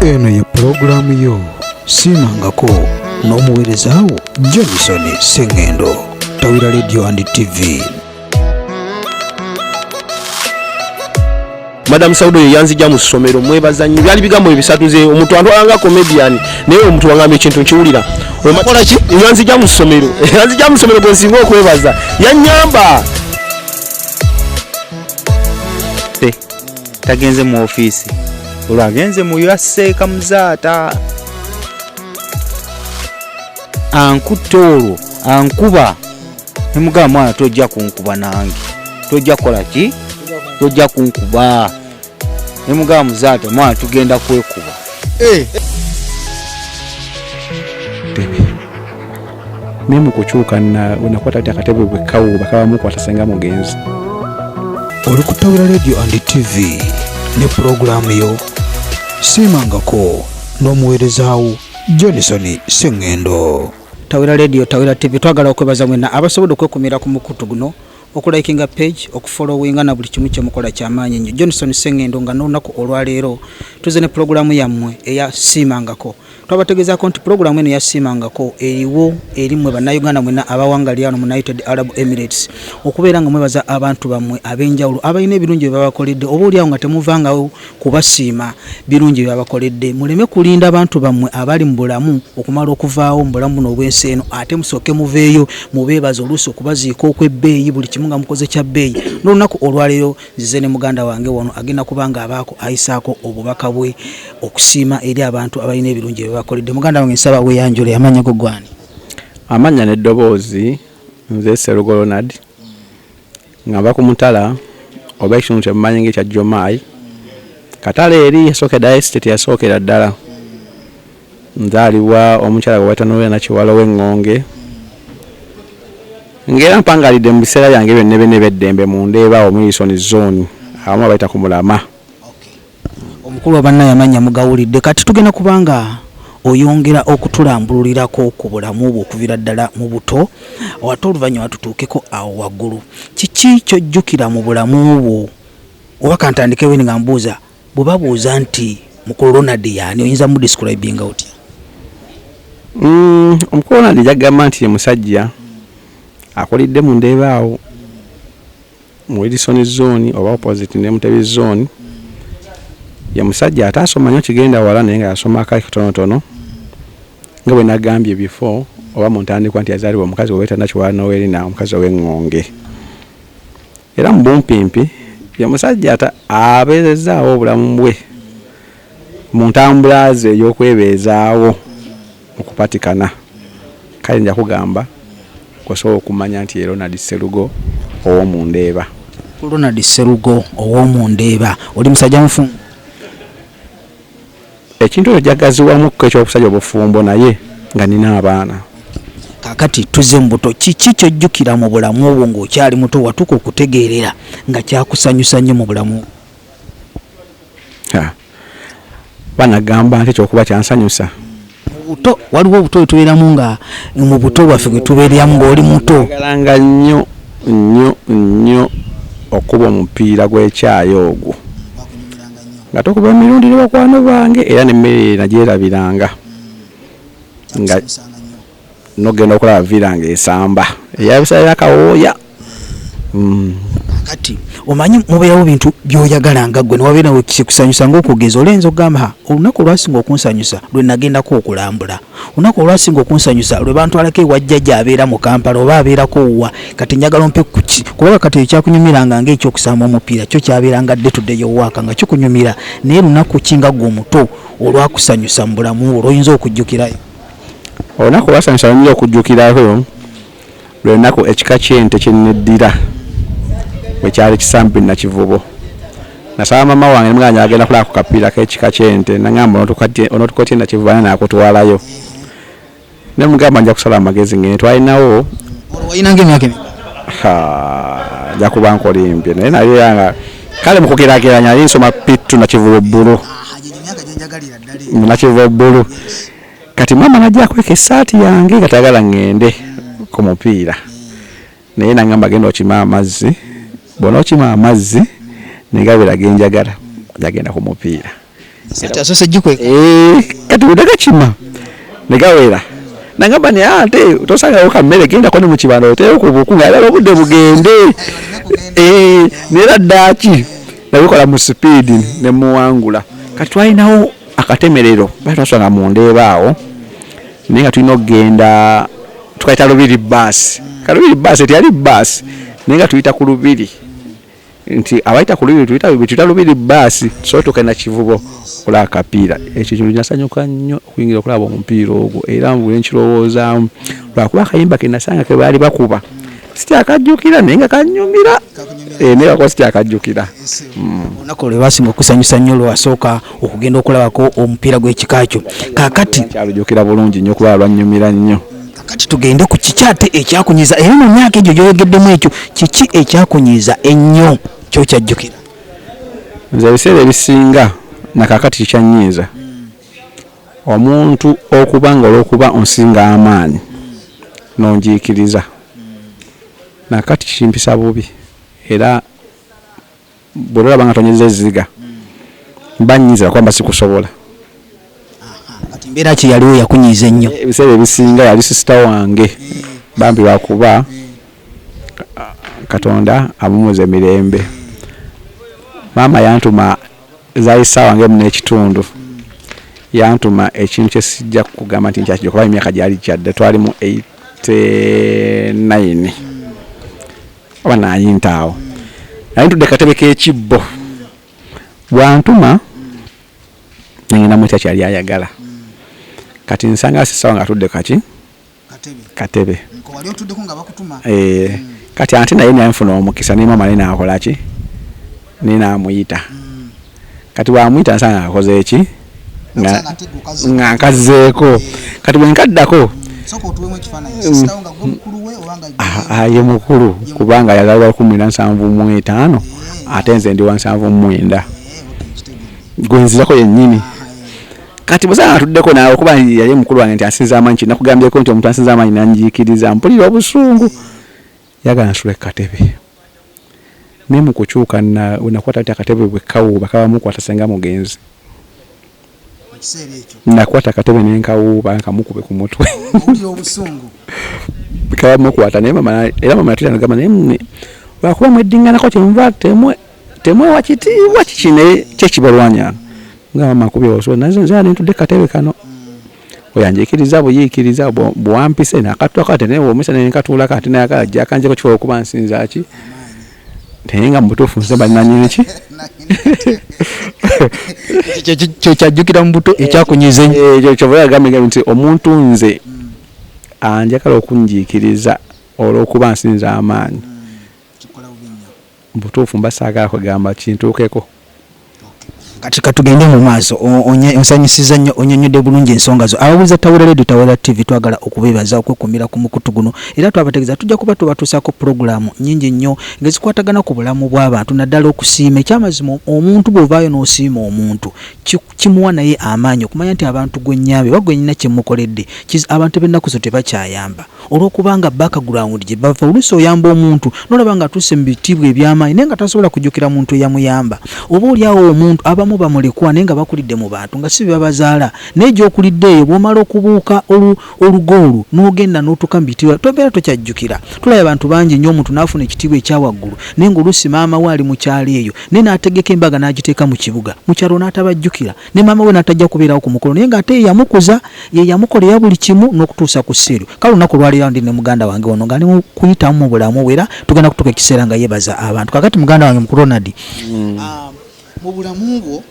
eno ye pulogulaamu yo siimangako n'omuweereza wo johnson sengendo tawira radio and tv madam saudo ye yanzija mu ssomero mwebaza nnyo byali bigambo ebisatuze omuntu antwalanga comedian naye omuntu wangamba ekintu nkiwulira yanzija mu ssomero yanzija mu ssomero gwe nsinga okwebaza yanyamba tagenze mu ofiisi olwo agenze mu yaseeka muzaata ankutte olwo ankuba nemugamba mwana tojja kunkuba nange tojja kukola ki tojja kunkuba nemugamba muzaata mwana tugenda kwekuba eh. naye mu kukyuka nakwata ti akatebe bwe kawuuba kaba mukwata senga mugenzi oli ku tawira radio and tv ne pulogulaamu yo siimangako n'omuweerezaawo johnson sengendo tawira radio tawira tv twagala okwebaza mwena abasobodde okwekumira ku mukutu guno okulikinga page okufollowinga na buli kimu kyemukola kyamaanyi nnyo johnson sengendo nga n'olunaku olwaleero tuze ne pulogulaamu yammwe eya siimangako twabategezaako nti pulogulaamu eno yasiimangako eriwo eri mwe bannayuganda mwena abawangali ano mu united arab emirates okubeera nga mwebaza abantu bammwe ab'enjawulo abalina ebirungi bye babakoledde oba oliawo nga temuvangawo kubasiima birungi bye babakoledde muleme kulinda abantu bammwe abali mu bulamu okumala okuvaawo mu bulamu buno obw'ensi eno ate musooke muveeyo mubeebaza oluusi okubaziika okw'ebbeeyi buli kimu nga mukoze kya bbeeyi n'olunaku olwaleero Nzize ne muganda wange wano agenda kuba ng'abaako ayisaako obubaka bwe okusiima eri abantu abalina ebirungi bye bakoledde. Muganda wange nsaba weeyanjule, amannya go gw'ani? Amannya n'eddoboozi, nze Sserugo Ronald nga nva ku mutala oba ekitundu kye mumanyi ng'ekya Jomai. Katala eri yasookeddayo esiteeti eyasookera ddala. Nzaalibwa omukyala gwe bayita Noella Nakiwala ow'eŋŋonge ng'era mpangaalidde mu biseera byange byonna ebina eby'eddembe mu Ndeeba awo Mulisoni Zzooni awamu we bayita ku Mulama. Omukulu wa Bannayamanya mugawulidde kati tugenda kuba nga oyongera okutulambululirako ku bulamu bwo okuviira ddala mu buto ate oluvannyuma tutuukeko awo waggulu. Kiki ky'ojjukira mu bulamu bwo oba kantandikewo nga mbuuza? Bwebabuuza nti mukulu Ronald yaani oyinza mu describinga otya? Mm, omukulu Ronald jagamba nti ye musajja akulidde mu ndeeba awo mu Wilson zone oba opposite ne Mutebi zone ye musajja ataasoma nyo kigenda wala naye nga yasoma akali katonotono nga bwe nagambye before oba mu ntandikwa nti yazaalibwa omukazi wewetandakiwala nowerina omukazi ow'eŋŋonge Era mu bumpimpi ye musajja ata abeerezzaawo obulamu bwe mu ntambula ze ey'okwebeezaawo mu kupatikana. Kale nja kugamba kw'osobola okumanya nti ye Ronald Sserugo ow'omu Ndeeba. Ronald Sserugo ow'omu Ndeeba, oli musajja mufumbo? Ekintu ekyo jagaziwamukko eky'okusajja obufumbo naye nga nina abaana. Kakati tuze mubuto kiki kyojjukira mu bulamu obwo nga okyali muto watuka okutegeerera nga kyakusanyusa nnyo mu bulamu obwo? Banagamba nti ekyokuba kyansanyusa. Mu buto waliwo obuto bwe tubeeramu nga mu buto bwaffe bwe tubeeramu ng'oli muto. Nnayagalanga nnyo nnyo nnyo okukuba omupiira gw'ekyayi ogwo nga tukuba emirundi ne bakwano bange era n'emmere eyo nagyerabiranga nga n'ogenda okulaba villa ng'esamba eyabisalira kawooya. mm. kati omanyi mubeerawo bintu byoyagala nga gwe newabeera nawe kikusanyusa ngaokugeza olenza okugamba olunaku olwasinga okunsanyusa lwe nagendako okulambula olunaku olwasinga okunsanyusa lwe bantwalako ewajjaja abeera mu kampala oba abeerako wa kati njagala ompe kuki kubanga kati eyo kyakunyumiranga ngaekyokusamba omupiira kyo kyabeeranga dde tuddeyo waaka nga kikunyumira naye lunaku ki nga gwe omuto olwakusanyusa mu bulamu olwoyinza okujjukirayo olunaku olwasanyusa oyinza okujjukirayo Lwe lunaku ekika ky'ente kye nneddira bwe kyali kisambi Nakivubo. Nasaba maama wange ne mugamba nti njagala kugenda kulaba ku kapiira k'ekika ky'ente n'angamba onootuuka otya e Nakivubo ani anaakutwalayo. Ne mmugamba nja kusala amagezi ng'ende twalinawo. Olwo walina ng'emyaka emeka? Ha, nja kuba nkolimbye naye nali era nga kale mu kugeraageranya nali nsoma P2 Nakivubo Bbulu. Aha, gye gyo emyaka gye njagalira ddala egyo. Nakivubo Bbulu. kati maama najja akweka esaati yange nga tagala ŋŋende ku mupiira naye nangamba genda okima amazzi bona okima amazzi negabera genjagala nagenda ku mupiira eh, kati udagakima negawera nangamba naye ate tosangawo kammere gendako ne mukibanda oteyo ku buku nga alala obudde bugende eh, nera ddaaki nabikola mu sipiidi nemuwangula kati twalinawo akatemerero batwasanga mu ndeeba awo naye nga tulina okugenda tukayita lubiri baasi kalubiri baasi teyali baasi naye nga tuyita ku lubiri nti abayita ku lubiri tuyita lubiri baasi tusobola tukenda kivubo okulaba akapiira ekyo kintu nasanyuka nnyo okuyingira okulaba omupiira ogwo era mbu enkirowoozaamu lwakuba akayimba ke nasanga ke baali bakuba sikyakajjukira naye nga kanyumira eh, naye kakuba sikyakajjukira hmm. olunaku olwo lwasinga okusanyusa nnyo lwasooka okugenda okulabako omupiira gw'ekika kyo kakati kyalujukira bulungi nnyo kuba lwanyumira nnyo kakati tugende ku kiki ate ekyakunyiza era mu myaka egyo gyoyogeddemu ekyo kiki ekyakunyiza ennyo kyokyajjukira nze ebiseera ebisinga nakakati kikyanyiiza Omuntu okuba nga olw'okuba onsinga amaanyi n'onjiikiriza, na kati kimpisa bubi, era bwe liraba nga tonyezza ezziga, mba nnyinza kuba mba sikusobola. Kati mbeera ki yaliwo eyakunyiiza ennyo? Ebiseera ebisinga yali sisita wange bambi lwa kuba Katonda amuwumuze mirembe. Maama yantuma. zaali ssaawa ng'emu n'ekitundu yantuma ekintu kye sijja kugamba nti nkyakijja kuba emyaka gyali gyadde twali mu 89 oba nayinta awo naye ntudde katebe k'ekibbo bwantuma nengenda mutya kyali ayagala kati nsanga sisaawa nga atudde kaki katebe eh, mm. kati ante naye nanfuna omukisa naye maama naye nakolaki naye namuyita mm. kati wamuyita nsanga akoze eki nga nkazzeeko eh. kati bwenkaddako mm. ah, ah, ye mukulu kubanga yazalibwa kumi na nsanvu mu etaano eh. ate nze ndi wa nsanvu mu mwenda gwenzirako yennyini ah, kati bwesanga atuddeko naawe kuba yali mukulu wange nti asinza amaanyi kinakugambyeko nti omuntu asinza amaanyi nanjiikiriza mpulira obusungu yagala nsula ekukatebe naye mukukyuka nakwata ti akatebe bwekawuuba kabamukwata senga mugenzi nakwata akatebe nenkawuuba nkamukube ku mutwe kabamukwata naye era mama yatera nagamba naye mune lwakuba mweddinganako kyemuva temwe temwewa kitiibwa kiki naye kyekibalwanya nga mama kubye wasobola naye nze ali ntudde katebe kano oyanjikiriza buyiikiriza bwampise nakatula kati naye womisa naye nkatuula kati naye akala ajja akanjeko kikola okuba nsinza ki naye nga mubutuufu nze bananyini ki kyekyajjukira mu buto ekyakunyiza ekyo eh, kyova yagambye nti omuntu nze anjagala okunjiikiriza olwokuba nsinza amaanyi Mubutuufu mba saagala kwegamba kintuukeko. Kati katugende mu maaso. Onsanyusizza nnyo. Onyonyodde bulungi ensonga zo. Ababuuliza Tawera Radio, Tawera TV twagala okubeebaza okwekuumira ku mukutu guno era twabategeeza tujja kuba tubatuusaako pulogulaamu nnyingi nnyo ngezikwatagana ku bulamu bw'abantu naddala okusiima. Ekyamazima omuntu bw'ovaayo n'osiima omuntu kimuwa naye amaanyi okumanya nti abantu gwe nnyambye oba gwe nnina kye mmukoledde kiz abantu b'ennaku zino tebakyayamba. Olw'okubanga background gye bava oluusi oyamba omuntu n'olaba ng'atuuse mu bitiibwa eby'amaanyi naye nga tasobola kujjukira muntu eyamuyamba. Oba oli awo omuntu, abamu bamulekwa naye nga bakulidde mu bantu nga si be babazaala naye gy'okulidde eyo bw'omala okubuuka olu, olugo olwo n'ogenda n'otuuka mu bitiibwa tobeera tokyajjukira. Tulabye abantu bangi nnyo omuntu n'afuna ekitiibwa ekya waggulu naye ng'oluusi maama we ali mu kyalo eyo naye n'ategeka embaga n'agiteeka mu kibuga, mu kyalo n'atabajjukira. ne maama we natajja kubeerawo ku mukolo naye ng'ate yeyamukuza yeyamukolera buli kimu n'okutuusa ku seeru kale olunaku olwaleero ndi ne muganda wange wano ng'ali mu kuyitamu mu bulamu bwe era tugenda kutuuka ekiseera nga yebaza abantu kakati muganda wange mukulu ronald mm. ah, mu bulamu bwo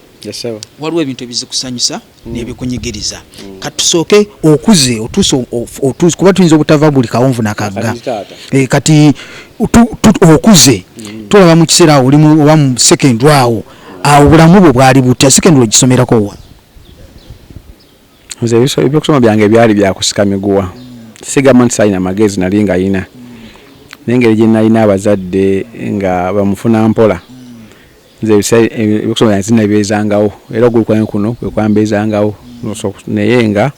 waliwo ebintu ebizikusanyusa mm. nebikunyigiriza mm. kati tusooke okuze otuuse kuba tuyinza obutava buli kawonvu nakagga eh, kati okuze tulaba mu kiseera awo olimu oba mu sekendi awo awo bulamu bwo bwali butya secondary ogisomerako wa nze ebyokusoma byange byali byakusika miguwa sigamba nti salina magezi nali nga yina nengeri gyenalina abazadde nga bamufuna mpola nze ebyokusoma byange zinabyezangawo era ogulu kwange kuno kwekwambezangawo naye nga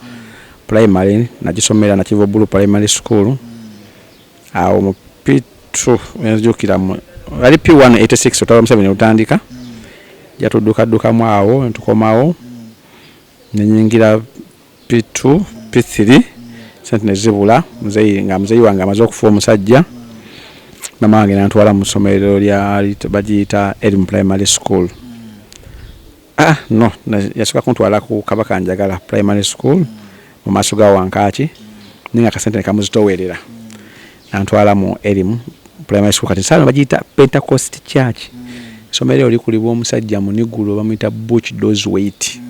primary nagisomera nakiva obulu primary school awo mu pitu enzijukira mu ali p 186 otaba museveni lutandika jatuddukadukamu awo ntukomawo nenyingira p2 p3 sente nezibula muzeyi nga muzeyi wange amaze okufa omusajja mama wange nantwala mu ssomero lya bagiyita erim primary school Ah, no yasooka kuntwala ku kabaka njagala primary school mu maaso ga wankaaki naye nga kasente nekamuzitowerera nantwala mu erimu primary school kati saano bagiyita pentecost church somero oli kulibwa omusajja munigulo bamuyita buch dos wait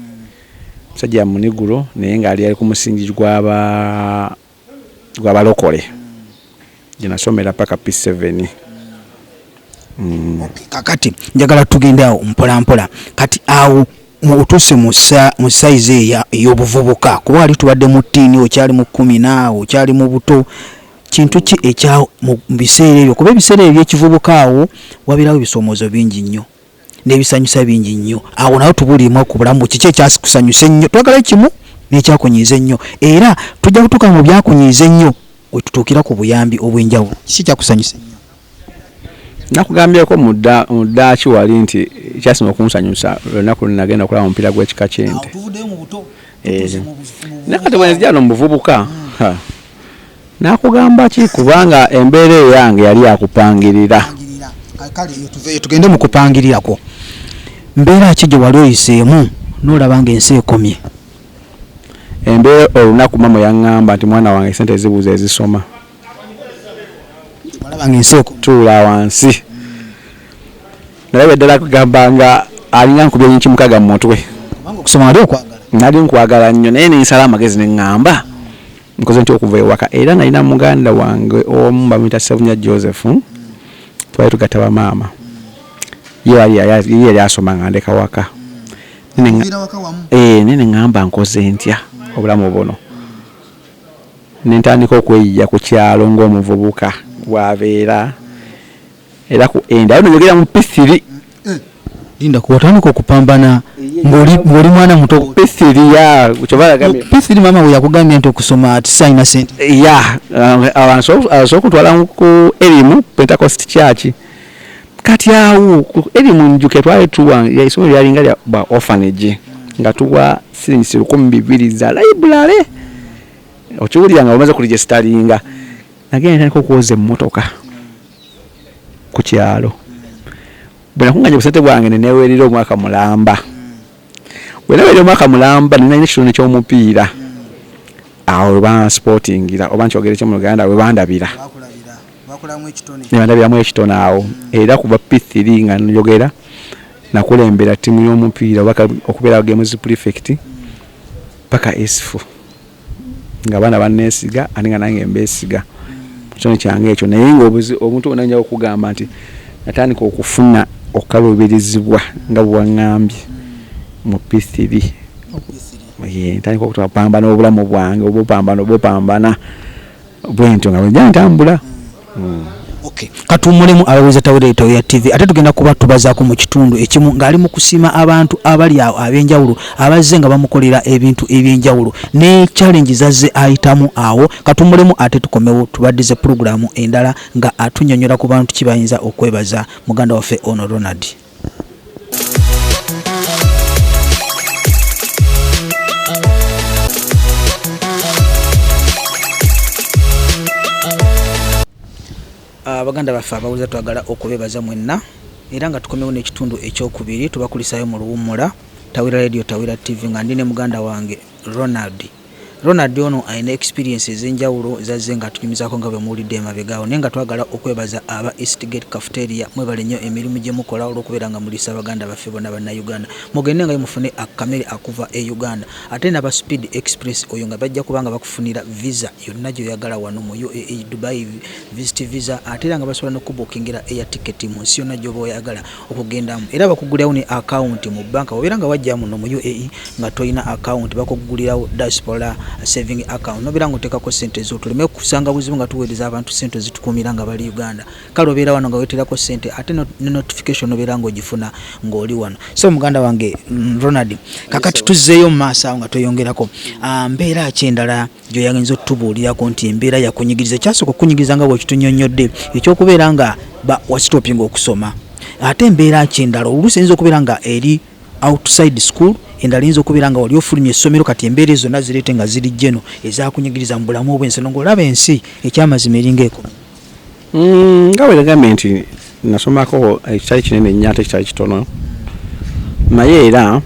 omusajja munigulo naye ngaali ali ku musingi gwaba gwa balokole gyenasomera paka P7 mm. okay, kakati njagala tugende awo mpola mpola kati awo otuse mu sayizi ey'obuvubuka kuba wali tubadde mu tiini okyali mu kumi naawo okyali mu buto kintu ki ekya mu biseera ebyo kuba ebiseera ebyo byekivubuka awo wabirawo ebisoomozo bingi nnyo n'ebisanyusa bingi nnyo awo nawe tubuliimu ku bulamu kiki ekyakusanyusa ennyo twagala kimu n'ekyakunyiiza ennyo era tujja kutuuka mu byakunyiiza ennyo wetutuukira ku buyambi obw'enjawulo kiki ekyakusanyusa ennyo nakugambyeko mu ddaaki wali nti kyasima okunsanyusa lunaku lunagenda okulaba omupiira gw'ekika ky'ente nakati bwenzijano mu buvubuka hmm. Nakugamba ki kubanga embeera eyange yali yakupangirira. Pangirira. Ah, Kale eyo tuveeyo tugende mu kupangirira kwo. Mbeera ki gye wali oyiseemu n'olaba ng'ensi ekomye? Embeera olunaku mama yaŋŋamba nti mwana wange ssente zibuze ezisoma. Walaba ng'ensi ekomye. Tuula wansi. Nalabye ddala kugamba nga alinga nkubye yinki mukaaga mu mutwe. Kubanga okusoma wali okwagala. Nali nkwagala nnyo naye ne nsala amagezi ne ŋŋamba. nkoze ntya okuva ewaka era nalina muganda wange omu bamuyita sebunya joseph twali tugatta bamaama ye yali asoma nga ndeka waka eh, nene ŋamba nkoze ntya obulamu buno nentandika okweyiya ku kyalo ngaomuvubuka bwabeera era ku end ayo nogera mu pisiri eh, linda kuwatandika okupambana ngoli mwana muto pisiri ya pisiri mama we yakugambye nti okusoma ati sayina sente eh, ya asobola okutwala ku erimu pentecost church kati awo ku erimu njuke twali tuwa isomero lyalinga lya ba orphanage nga tuwa silingisi lukumi bibiri za library okiwulira nga omaze kuligestalinga Nagenda ntandika okwoza emmotoka ku kyalo. Bwe nakunganya obusente bwange ne neewerera omwaka mulamba. Bwe nawerera omwaka mulamba ne nalina ekitone ky'omupiira. Awo we bansipotingira oba nkyogere ki mu Luganda we bandabira. Ne bandabiramu ekitone awo era kuva P3 nga njogera nakulembera ttiimu y'omupiira oba okubeera gemuzi pulifekiti paka Isfu. nga abaana banneesiga ate nga nange mbeesiga ku kitone kyange ekyo naye ngaomuntu wona nja okugamba nti natandika okufuna okukaluubirizibwa nga bwewaŋŋambye mu pithiri ntandika okutapambana obulamu bwange obupambana obupambana bwentyo nga bwegya ntambula hmm. katuwumulemu ababuuza tawereeta oya tv ate tugenda kuba tubazaako mu kitundu ekimu ng'ali mu kusiima abantu abali awo ab'enjawulo abazze nga bamukolera ebintu eby'enjawulo ne challenge zazze ayitamu awo katuwumulemu ate tukomewo tubaddize pulogulaamu endala nga atunyonyola ku bantu kibayinza okwebaza muganda waffe ono ronald Ah, baganda baffe abawuliza twagala okubebaza mwenna era nga tukomewo n'ekitundu ekyokubiri tubakulisaayo mu luwummula tawira radio tawira tv nga ndi ne muganda wange ronald Ronald ono alina experience ezenjawulo zazze nga atunyumizaako nga bwemuwulidde emabega awo naye nga twagala okwebaza aba East Gate Cafeteria mwebale nnyo emirimu gyemukola olwokubeera nga muliisa baganda baffe bonna bannayuganda mugende ngayo mufune akamere akuva e Uganda ate naba Speed Express oyo nga bajja kuba nga bakufunira visa yonna gyoyagala wano mu UAE Dubai visit visa ate era nga basobola nokukubukingira air ticket munsi yonna gyoba oyagala okugendamu era bakugulirawo ne akawunti mu banka obeera nga wajja muno mu uae nga tolina akawunti bakugulirawo diaspora saving account nobeera nga oteekako sente zo tuleme kusanga buzibu nga tuweereza abantu sente ozitukuumira nga bali uganda kale obeera wano nga weterako sente ate ne notification obeera nga ogifuna ng'oli wano so muganda wange mm, ronald kakati tuzzeeyo mu maaso awo nga tweyongerako ah, mbeera ki endala yes, gyoyagenza otutubuulirako nti embeera yakunyigiriza kyasooka okukunyigiriza nga bwekitunyonyodde ekyokubeera nga wasitopinga okusoma ate embeera ki endala oluusi eyinza okubeera nga eri outside school endala eyinza okubeera nga wali ofulumya essomero kati embeera ezo zonna zireete nga ziri jeno ezakunyigiriza mu bulamu obwensi no ngaolaba ensi ekyamazima eringa eko Mm, nga bwegambye nti nasomako ekitali kinene nnyo ate ekitali kitono naye era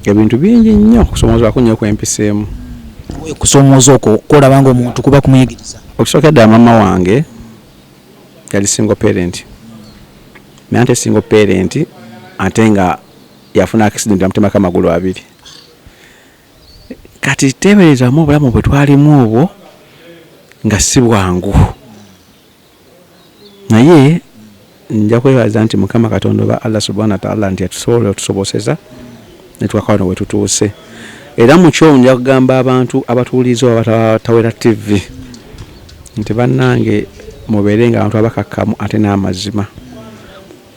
ebintu bingi nnyo okusomoozebwako nnyo kwempiseemu okusomooza okwo kwolaba nga omuntu kuba kumuyigiriza okusooka ddala maama wange yali single parent naye ate single parent ate nga yafuna accident amutemako amagulu abiri kati teeberezaamu obulamu bwe twalimu obwo nga si bwangu naye nja kwebaza nti mukama katonda oba allah subhana wataala nti atusobola otusoboseza netwakawa no wetutuuse era mukyo nja kugamba abantu abatuwuliriza oba batawera tv nti bannange mubeere nga abantu abakakkamu ate n'amazima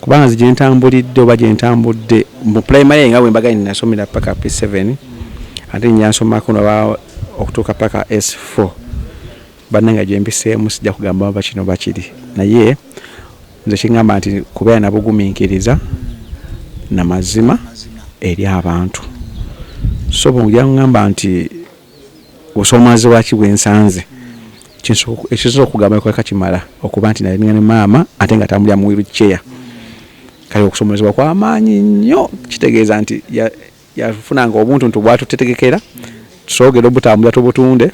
Kubanga nze gyentambulidde oba gyentambudde mu primary nga bwembaganye nasomera paka P7 ate njansomako naba okutuuka paka S4 banange gyempiseemu sijja kugamba oba kino oba kiri naye nze kingamba nti kubeera nabuguminkiriza namazima eri abantu so bwojja ngamba nti Obusoomoozebwa waki bwe nsanze? Ekisoose okugamba kweka kimala okuba nti nali ne maama ate nga atambulira mu wheel chair. Kale okusoomoozebwa kwa maanyi nnyo kitegeeza nti yafunanga obuntuntu bwatutetegekera tusobogere obutambula tubutunde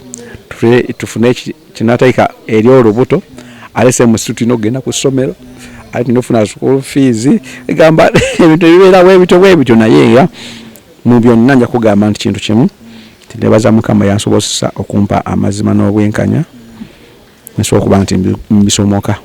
tufune kinatayika eri olubuto ate same situ tulina okugenda ku ssomero ate tulina okufuna school fees egamba ebintu ebibeerawo ebityo bwebityo naye era Mu byonna nja kugamba nti kintu kimu nti nebaza Mukama eyansobozesa okumpa amazima n'obwenkanya nsobole okuba nti mbisomoka.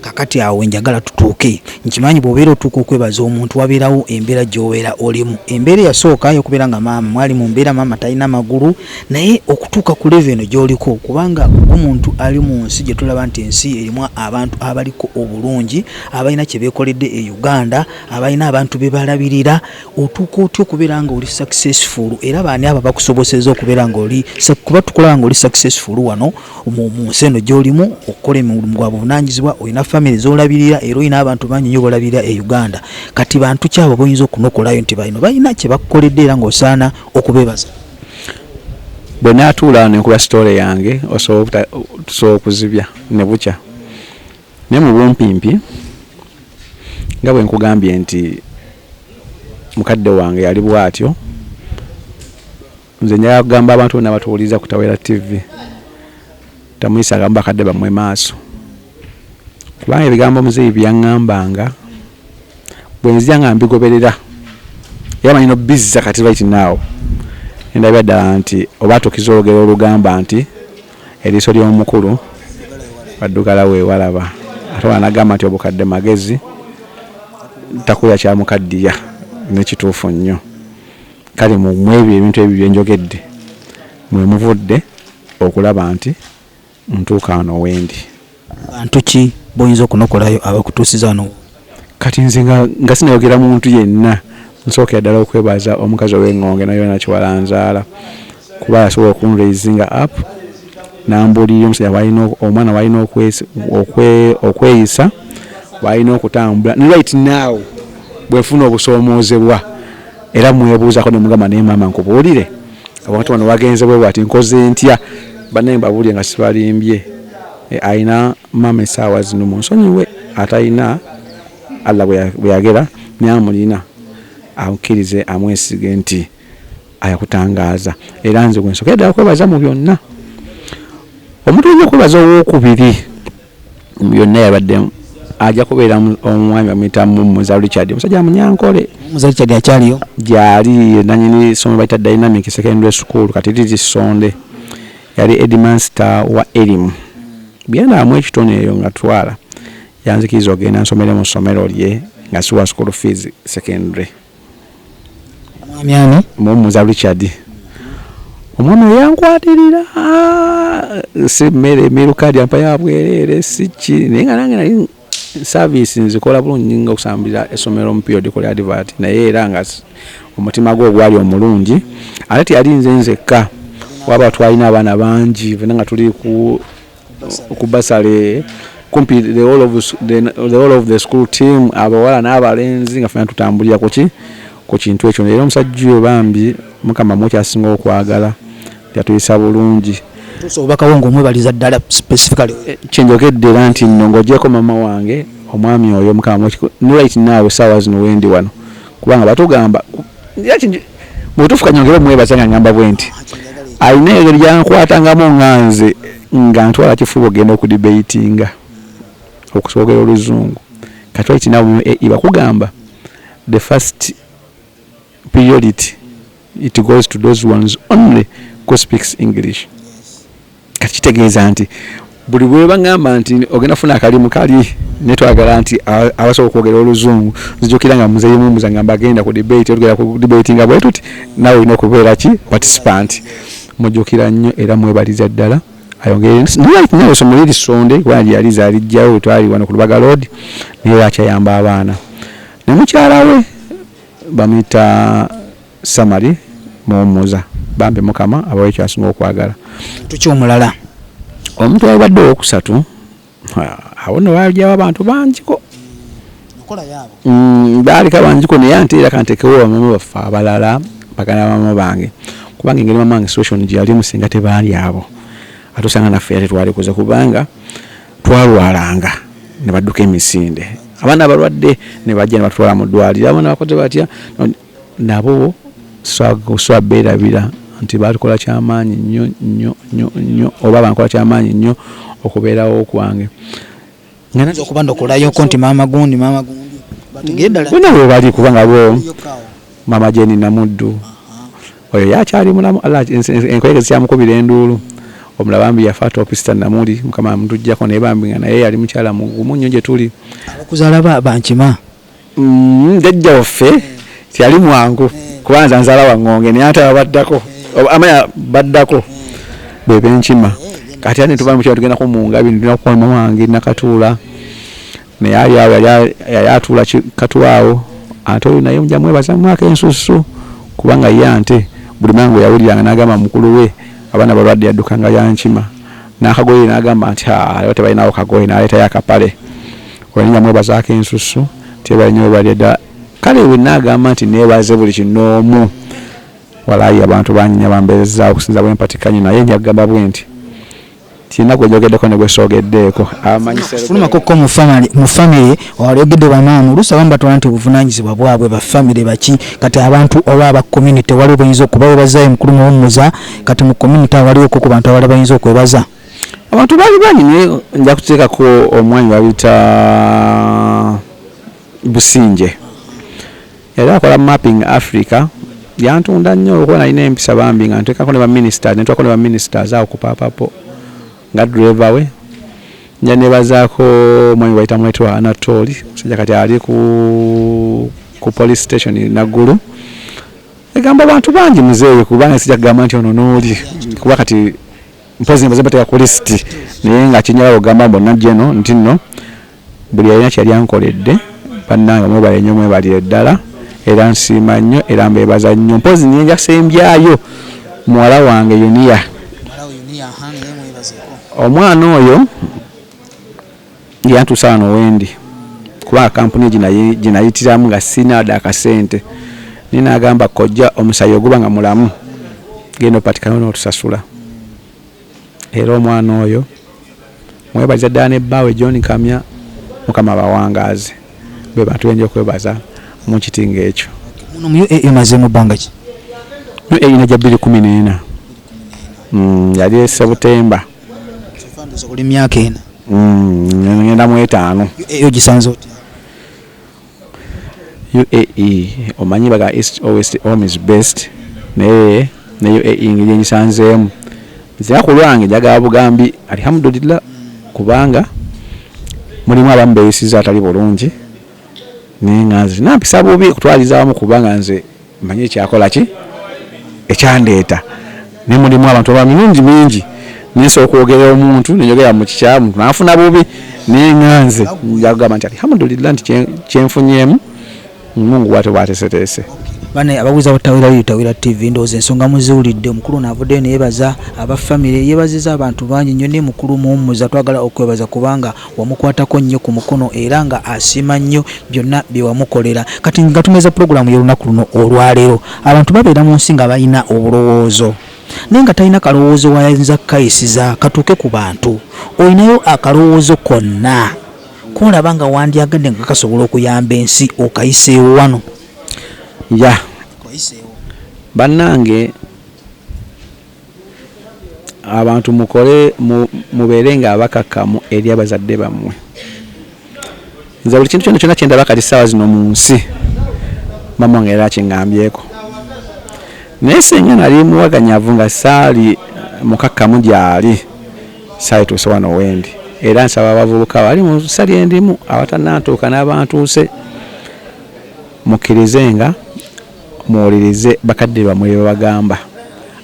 Kakati awo wenjagala tutuuke, nkimanyi bwobeera otuuka okwebaza omuntu wabeerawo embeera gyobeera olimu. Embeera eyasooka yokubeera nga maama mwali mu mbeera maama talina magulu naye okutuuka ku level eno gyoliko kubanga omuntu ali mu nsi gye tulaba nti ensi erimu abantu abaliko obulungi abalina kye beekoledde e Uganda, abalina abantu be balabirira. otuuka otya okubeera nga oli successful era baani abo bakusoboseza okubeera nga oli kuba tukulaba nga oli successful wano mu nsi eno gyolimu okukola emirimu gwa buvunanyizibwa olina famiry zolabirira era olina abantu bangi nyo bolabirira e uganda kati bantu kyabo boyinza okunokolayo nti balino balina kyebakukoledde era ngaosaana okubebaza bwe natuula nenkuba sitole yange osobola tusobola okuzibya ne bukya Naye mu bumpimpi nga bwe nkugambye nti mukadde wange yali bw'atyo, nze njagala kugamba abantu bonna abatuwuliriza ku Tawera TV, tamuyisangamu bakadde bammwe maaso kubanga ebigambo muzeeyi bye yaŋŋambanga bwe nzija nga mbigoberera era manyi nobizza kati right now endabira ddala nti oba atuukiza olugero olugamba nti Eriiso ly'omukulu addugala wewalaba ate wano nagamba nti obukadde magezi takuya kyamukaddiya nekituufu nnyo kale mwebyo ebintu ebyo byenjogedde mwemuvudde okulaba nti ntuuka wano wendi. Bantu ki boyinza okunokolayo abakutuusiza wano w'oli? Kati nze nga sinayogera muntu yenna, nsookera ddala okwebaza omukazi ow'eng'onge Nayona Kiwalanzaala kuba yasobola oku raisinga up n'ambuulirira omusajja bwalina, omwana bwalina okweyisa, bwalina okutambula ne right now bwenfuna obusoomoozebwa era mwebuuzako ne mugamba naye maama nkubuulire? abantu bano wagenze bwe bwati nkoze ntya banaye mbabulire nga sibalimbye eh, alina maama esaawa zino munsonyiwe atalina allah bweyagera naye amulina amukirize amwesige nti ayakutangaaza era nze gwensokedde akwebaza mu byonna omuntu olina okwebaza owokubiri byonna yabaddemu ajja kubeera omwami bamuyita muza richard omusajja munyankole muza richard akyaliyo gyali nanyini somo bayita dynamic secondary school kati liri sonde yali edmaster wa erimu byanaamu ekitone eyo nga twala yanzikiriza ogenda nsomere mu ssomero lye nga siwa school fees secondary Omwami ani? Muwummuza Richard. Omwami oyo yankwatirira si mmere emiruka gyampa ya bwereere si ki naye nga nange nali saaviisi nzikola bulungi nyinga okusambira essomero mu period kola advert naye era nga omutima gwe ogwali omulungi ate teyali nze nzekka waba twalina abaana bangi fena nga tuli ku ku basale kumpi the whole of the, the whole of the school team abawala n'abalenzi nga fena tutambulira kuki ku kintu ekyo era omusajja oyo bambi mukama mwekyasinga okwagala yatuyisa bulungi obubakawo ngaomwebaliza ddala specifically eh, kyenjogedde era nti nno ngaogyeko mama wange omwami oyo mukama nolait naawe saawa zino wendi wano kubanga batugamba mubutuufu kanyongere omwebaza nga ngamba bwe nti alina engeri gyankwatangamu nga nze nga ntwala kifuba okugenda okudibeitinga okusoogera oluzungu kati waiti nawe mu ae bakugamba the first priority it goes to those ones only who speaks english kati kitegeeza nti buli bwebagamba nti ogenda funa akalimu kali netwagala nti abasobola okwogera oluzungu nzijukira nga muzeyi mumbuza nga mbagenda ku debate olugera ku debate nga bwetuti nawe olina okubeera ki participant mujukira nnyo era mwebaliza ddala ayongerenawesomuliiri sonde kubanga gyeyali zalijjawo wetwali wano ku lubaga load naye lwakyayamba abaana ne mukyala we bamuyita Summary muwummuza bambi mukama abawe kyasinga okwagala. Muntu ki omulala? Omuntu eyalibadde owokusatu awo no wajawo abantu bangiko mm, baalika bangiko naye ante era kantekewo bamama baffe abalala bagana bamama bange kubanga engeri mama wange situation gyeyalimu singa tebaali abo ate osanga naffe era tetwalikuze kubanga twalwalanga ne badduka emisinde abaana abalwadde ne bajja ne batwala mu ddwaliro abaana bakoze batya Nabo swa beerabira nti baakola kya maanyi nnyo nnyo nnyo nnyo, oba baakola kya maanyi nnyo okubeerawo kwange. Nga nze okubanokolayo ko nti maama gundi, maama gundi, bategere ddala nti. Bonna weebali, kubanga bo, maama Jane Namuddu, oyo ye akyali mulamu, Allah enkoyege zikyamukubira enduulu. Omulala bambi yafa toopi, Sister Namuli, Mukama yamutuggyako, naye bambi nga naye yali mukyala mugumu nnyo gye tuli. Abakuzaala ba, bankima. Mm, jajja waffe teyali mwangu kubanza nzala waŋŋonge naye ate ababaddako amanya baddako bwe benkima kati ate netuba mukyalo tugenda ku mungabi netulina kukola mama wange nakatuula naye ali awo yali atuula katuwa awo ate oyo naye muja mwebaza mwaka ensusu kubanga ye ante buli mangu yawuliranga nagamba mukulu we abaana balwadde yaddukanga yankima n'akagoye n'agamba nti haa lero tebalinawo kagoye n'aleetayo akapale oyo ninja mwebazaako ensusu tebale nyo webale dda kale bwe nagamba nti neebaze buli kinoomu walaayi abantu banyinya bambeerezaawo okusinza bwe mpatikanye naye nja kugamba bwe nti kirina gwe njogeddeko ne gwe soogeddeeko amanyisfulumako ko mu famire walyogedde bamaamu oluusi abamu batwala nti obuvunaanyizibwa bwabwe ba famire baki kati abantu oba aba community waliwo buyinza okuba webazaayo mukulu muwummuza kati mu community awaliwo ko ku bantu abala bayinza okwebaza abantu bali banyi naye nja kuteekako omwanya babita businje era akola mapping africa yantunda nnyo olwokuba nalina empisa bambi nga ntekako ne baministers netwako ne baministers awo ku papapo nga driver we nja nebazaako omwami bayita mwetwa anatoli musajja kati ali ku ku police station naggulu egamba abantu bangi muzeeyi kubanga sijja kugamba nti ono n'oli kuba kati mpozi mbaze mbateeka ku lisiti naye nga kinyala ogamba mbu najja eno nti nno buli yalina kyeyali ankoledde bannange mwebale nnyo mwebalire ddala era nsiima nnyo era mbeebaza nnyo mpozi naye njasembyayo muwala wange yuniya omwana oyo Yantuusa wano wendi kuba kampuni gye nayitiramu nga sirina wadde akasente naye n'agamba kojja omusaayi oguba nga mulamu genda opatikane n'otusasula era omwana oyo mwebaliza ddala ne bbaawe John Kamya mukama abawangaaze bwe bantu benja okwebaza mu kiti ng'ekyo. Muno mu UAE omazeemu bbanga ki? UAE najja bbiri kkumi n'ena mm, yali e Sebutemba. oli myaka ena mm, ngenda mu etaano e ogisanze otya uae omanyi baga east or west home is best naye ne uae ngeri engisanzeemu nzira ku lwange njagala bugambi alhamdulillah kubanga mulimu abamu beyisiza atali bulungi naye nga nze nampisa bubi kutwaliza wamu kubanga nze mmanyi ekyakola ki ekyandeeta naye mulimu abantu aba mirundi mingi nensobola okwogera omuntu neyogera mu kikyamu nafuna bubi naye nga nze njagamba nti alhamdulillah nti kyenfunyeemu mungu bwate bwateseteese bane ababuuza butawera yo tawera tv ndowooza ensonga muziwulidde omukulu ono avuddeyo neyebaza aba famire yebaziza abantu bangi nnyo naye mukulu muwummuza twagala okwebaza kubanga Wamukwatako nnyo ku mukono era nga asiima nnyo byonna bye wamukolera. Kati nga tumeza pulogulaamu y'olunaku luno olwaleero, abantu babeera mu nsi nga balina obulowoozo naye nga talina kalowoozo w'ayinza kukayisiza katuuke ku bantu. Olinayo akalowoozo konna k'olaba nga wandyagadde nga kasobola okuyamba ensi okayiseewo wano? Yeah. Bannange. Abantu mukole mubeere nga abakakkamu eri abazadde bammwe. Nze buli kintu kyona kyona kyendaba kati ssaawa zino mu nsi maama wange yali akingambyeko. Naye singa nali muwaganyavu nga saali mukakkamu gyali saalituuse wano wendi. Era nsaba abavubuka bali mu nsi lyendimu abatanantuuka n'abantuuse mukkirize nga. Muwulirize bakadde bammwe bye babagamba.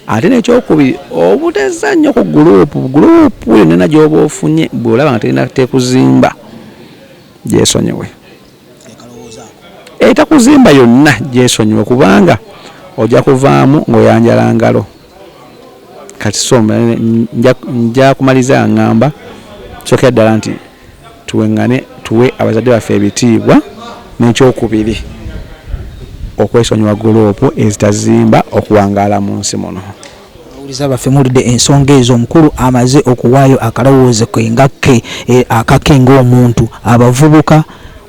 Ate n'ekyokubiri obutezza nnyo ku guluupu. Guluupu yonna gy'oba ofunye bw'olaba nga terina tekuzimba gyesonyiwe. Etakuzimba yonna gyesonyiwe kubanga ojja kuvaamu ng'oyanjala ngalo. Kati so nja kumaliriza nga ŋŋamba sookera ddala nti. tuweŋŋane tuwe abazadde baffe ebitiibwa, n'ekyokubiri okwesonyiwa gguloopu ezitazimba okuwangaala mu nsi muno. Abawuliza baffe muwulidde ensonga ezo, omukulu amaze okuwaayo akalowoozo ke nga ke akake ng'omuntu. Abavubuka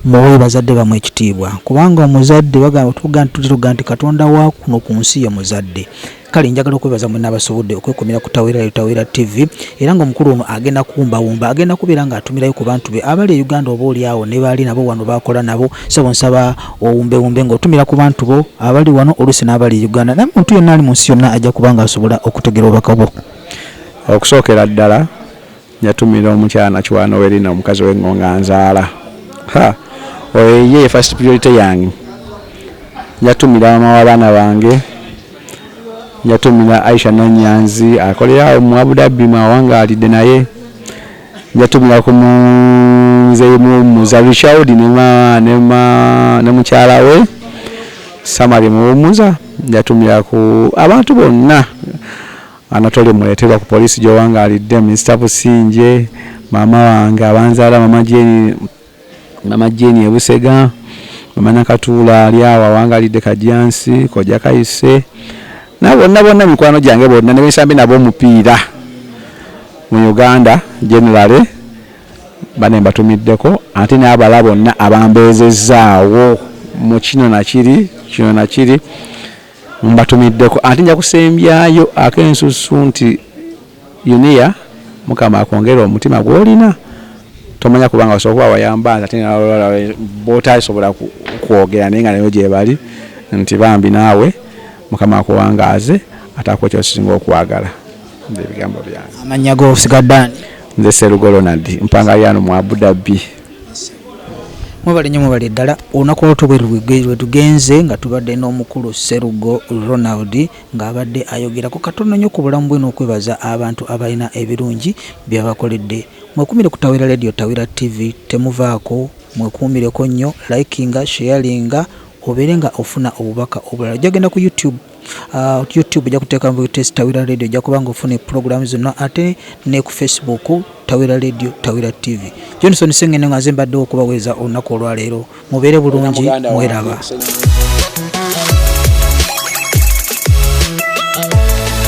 muwe bazadde bammwe ekitiibwa kubanga omuzadde bagamba, tuvuga nti tuvuga nti Katonda wa kuno ku nsi ye muzadde. Kale njagala okwebaza mwenna abasobodde okwekomera ku Tawera Tawera TV era ng'omukulu ono agenda kuwumbawumba agenda kubeera ng'atumirayo ku bantu be abali e Uganda oba olyawo ne baali nabo wano baakola nabo sebo nsaba owumbewumbe ng'otumira ku bantu bo abali wano oluusi n'abali e Uganda naye muntu yenna ali mu nsi yonna ajja kuba ng'asobola okutegera obubaka bwo. Okusookera ddala Yatumira omukyala nakiwaano Werina omukazi we ngonga nzaala ha oyo ye ye first priority yange njatumira mama w'abaana bange njatumira Aisha Nanyanzi akolera awo mu Abu Dhabi mwawangaalidde naye njatumira ku munze muwummuza Richard ne mukyala we Samari muwummuza njatumira ku abantu bonna Anatole muleterwa ku police gyowangalidde Mister Busingye maama wange abanzaala mama Jane mama Jane ebusega mama Nakatuula ali awo awangalidde Kajjansi kojja Kayise na bonna bonna mikwano gyange bonna nebensambi nabo omupiira mu Uganda generally bane mbatumiddeko ate n'abala bonna abambeezezzaawo mu kino nakiri kino nakiri Mbatumiddeko ate nja kusembyayo ak'ensusu nti Yunia mukama akwongere omutima gw'olina tomanya kubanga osobola kuba wayamba nze ate bootasobola kwogera naye nga nayo gyebali nti bambi naawe mukama akuwangaaze ate akuwa kyosinga okwagala ebigambo byange amannya gosigadde ani nze serugo ronald mpangalirano mu abudabbi Mwebale nnyo mwebale ddala olunaku olwaleero bwe lwetugenze nga tubadde n'omukulu Sserugo Ronald ng'abadde ayogerako katono nnyo ku bulamu bwe n'okwebaza abantu abalina ebirungi byabakoledde mwekumire ku Tawera Radio Tawera TV temuvaako mwekuumireko nnyo likinga sharinga obeere nga ofuna obubaka obulala ojja genda ku YouTube Uh, youtube ojja kuteeka mu test tawira radio ojja kuba nga ofuna epulogulaamu zonna ate ne ku facebook tawira radio tawira tv johnson sengene nga nze mbaddewo okubaweereza olunaku olwaleero mubeere bulungi mweraba